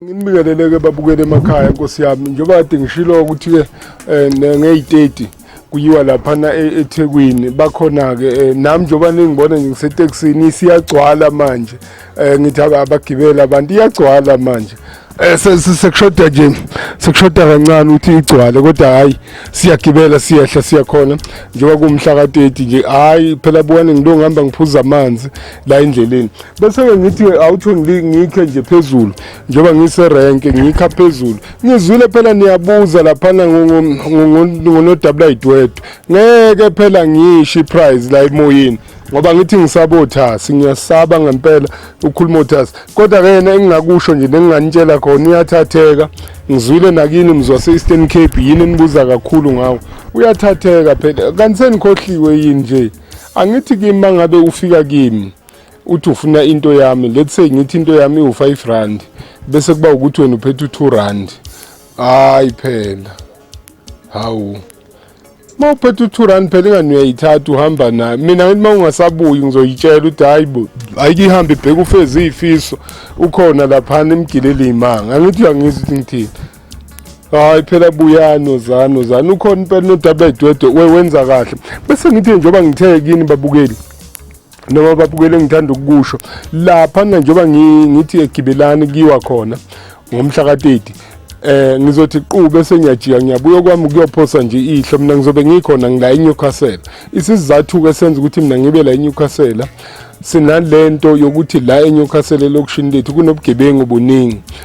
Nginibingelele-ke babukele emakhaya nkosi yami njengoba kade ngishilo ukuthi-ke um ngeyi-30 kuyiwa laphana e-, ethekwini bakhona-ke um eh, nami njengoba ningibona nje ngisetekisini isiyagcwala manje um ngithi abagibeli abantu iyagcwala manje Eh, sekushoda nje sekushoda kancane ukuthi igcwale kodwa hayi siyagibela siyehla siyakhona njengoba kumhla ka-30 nje hayi phela buwane ngilo ngihamba ngiphuza amanzi la endleleni bese-ke ngithi awutho ngikhe nje phezulu njengoba ngiserenke ngikha phezulu ngizwile phela niyabuza laphana ngonodabulayiduwedwe ngeke phela ngisho iprize la emoyeni ngoba ngithi ngisaba othasi ngiyasaba ngempela ukhuluma othasi kodwa-ke yena engingakusho nje nenginganitshela khona uyathatheka ngizwile nakini mzwase-eastern cape yini enibuza kakhulu ngawo uyathatheka phela kanti senikhohliwe yini nje angithi kimi mangabe ufika kimi uthi ufuna into yami let's say ngithi into yami iwu-5 rand bese kuba ukuthi wena uphethe u-2 rand hayi phela hawu uma uphethe u-2 rand phela ingani uyayithatha uhamba nayo mina ngithi uma ungasabuyi ngizoyitshela ukuthi hayi bo ayike ihambe ibheke ufeze iyifiso ukhona laphana imgilele iy'manga angithi uyangizwa ukuthi ngithini hayi phela buyano zano zano ukhona impela nodaba edwedwe wenza kahle bese ngithe njengoba ngithe kini babukeli noma babukele ngithanda ukukusho lapha na njengoba ngithi egibelani kiwa khona ngomhla ka-30 eh ngizothi qu bese ngiyajika ngiyabuya kwami kuyophosa nje ihlo mina ngizobe ngikhona ngila eNewcastle isizathu ke senza ukuthi mina ngibe la eNewcastle sinalento yokuthi la eNewcastle lokishini lethu kunobugebengu buningi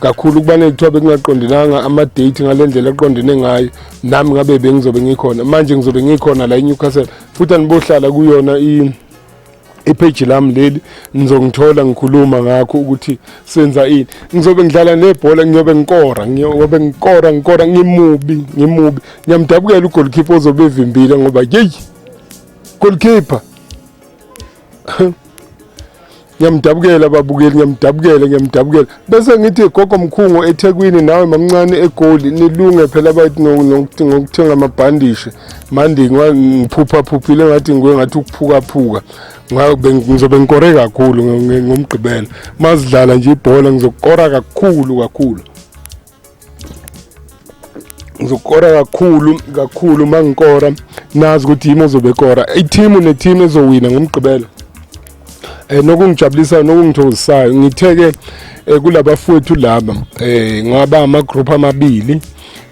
kakhulu kubanele kuthiwa bekungaqondenanga ama-date ngale ndlela eqondene ngayo nami ngabe bengizobe ngikhona manje ngizobe ngikhona la inewcastle futhi anibohlala kuyona ipheji lami leli ngizongithola ngikhuluma ngakho ukuthi senza ini ngizobe ngidlala nebhola ngiyobe ngikora ngiyobe ngikora ngikora ngimubi ngimubi ngiyamdabukela ugolkipa ozobe evimbile ngoba yeyi golkipa ngiyamdabukela babukeli ngiyamdabukela ngiyamdabukela bese ngithi gogo mkhungo ethekwini nawe mamncane egoli nilunge phela bathi ngokuthenga amabhandishi mandi ngiphuphaphupile ngathi nguye ngathi ukuphukaphuka ngizobe ngikore kakhulu ngomgqibela mazidlala nje ibhola ngizokukora kakhulu kakhulu ngizokora kakhulu kakhulu uma ngikora nazi ukuthi yimi ozobe ekora ithimu nethimu ezowina ngomgqibelo um eh, nokungijabulisayo nokungithokozisayo ngithe-ke um eh, kulabafowethu laba um eh, ngaba amagroupu amabili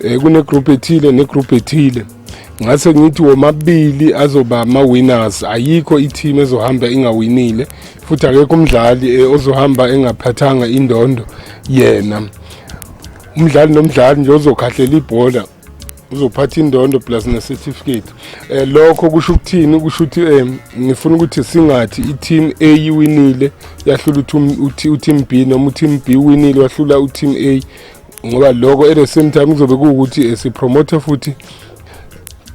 um kunegroupu ethile negroupu ethile ngase ngithi womabili azoba ama-winners ayikho ithimu ezohamba ingawinile futhi akekho umdlali ozohamba engaphathanga indondo yena umdlali nomdlali nje ozokhahlela ibhola uzophatha indondo plus ne-certificate eh lokho kusho ukuthini kusho ukuthi eh ngifuna ukuthi singathi i-team A iwinile yahlula u-team B noma u-team B winile wahlula u-team A ngoba lokho at the same time kuzobe kuwukuthi eh, sipromote futhi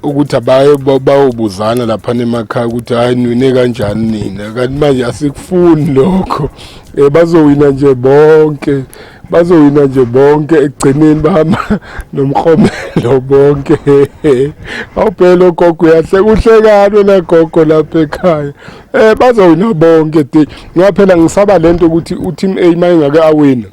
ukuthi abaye bayobuzana lapha nemakhaya ukuthi hayi nwine kanjani nina kanti manje asikufuni lokho um bazowina nje bonke bazowina nje bonke ekugcineni bahamba nomrhomelo bonke awuphela ogogo uyahle kuhlekani wena gogo lapha ekhaya um bazowina bonke de ngaphela ngisaba le nto ukuthi uteam a uma engake awina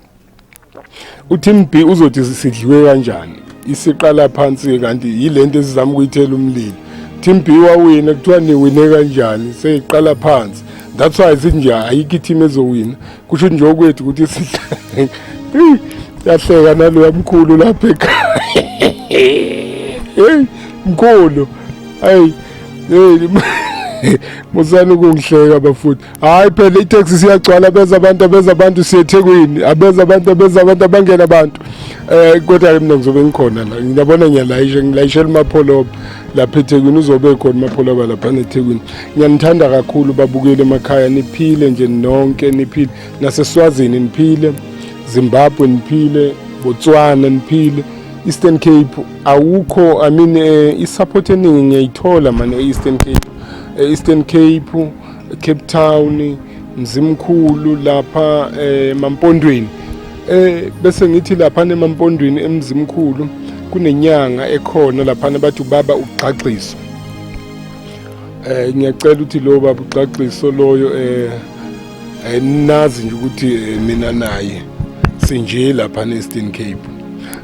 uTeam B uzothi sidliwe kanjani isiqala phansi kanti yilento esizama ukuyithela umlilo Team B wawina kuthiwa niwine kanjani seyiqala phansi that's why sithi nje ayikho i-team ezowina kusho ukuthi nje okwethu ukuthi sidlale yahleka naloya mkhulu lapha ekhaya heyi mkhulu hayi heyi musani ukungihleka bafuthi hayi phela itaxi siyagcwala beza abantu abeza abantu siyethekwini abeza abantu abeza abantu abangena abantu eh kodwa ke mina ngizobe ngikhona la ngiyabona ngiyalayisha ngilayishela umapholoba lapha ethekwini uzobe khona umapholoba lapha nethekwini ngiyanithanda kakhulu babukele emakhaya niphile nje nonke niphile naseswazini niphile zimbabwe niphile botswana niphile eastern cape awukho i mean eh, isupport eningi ngiyayithola mane e-eastern cape e-eastern cape Cape Town Mzimkhulu lapha eh, emampondweni eh bese ngithi lapha nemampondweni emzimkhulu kunenyanga ekhona lapha bathi ubaba ugqagxiso eh ngiyacela ukuthi lo baba ugqagxiso loyo eh, eh nazi nje ukuthi eh, mina naye sinje lapha neStern Cape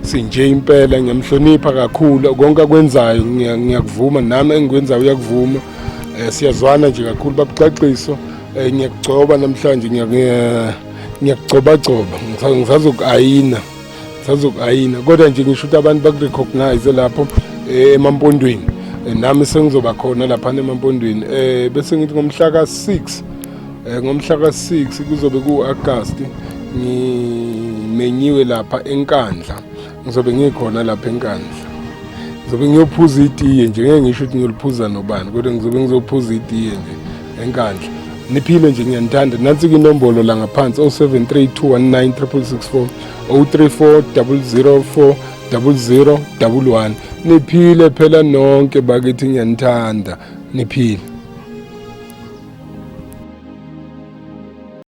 sinje impela ngiyamhlonipha kakhulu konke akwenzayo ngiyakuvuma nami engikwenzayo uyakuvuma Eh, siyazwana nje kakhulu babuxaxiso eh, ngiyakugcoba namhlanje ngiyakugcobagcoba ngisazoku-ayina ngisazoku-ayina kodwa nje ngisho ukuthi abantu bakurecognize lapho eh, emampondweni nami sengizoba khona laphana emampondweni um bese ngithi ngomhla ka-six um ngomhla ka-six kuzobe ku-agasti ngimenyiwe lapha enkandla ngizobe ngikhona lapha enkandla ngizobe ngiyophuza itiye nje ngeke ngisho ukuthi ngiyoliphuza nobani kodwa ngizobe ngizophuza itiye nje enkandla niphile nje ngiyanithanda nansi kwinombolo la ngaphansi 0732196664 034 000 0011 niphile phela nonke bakithi ngiyanithanda niphile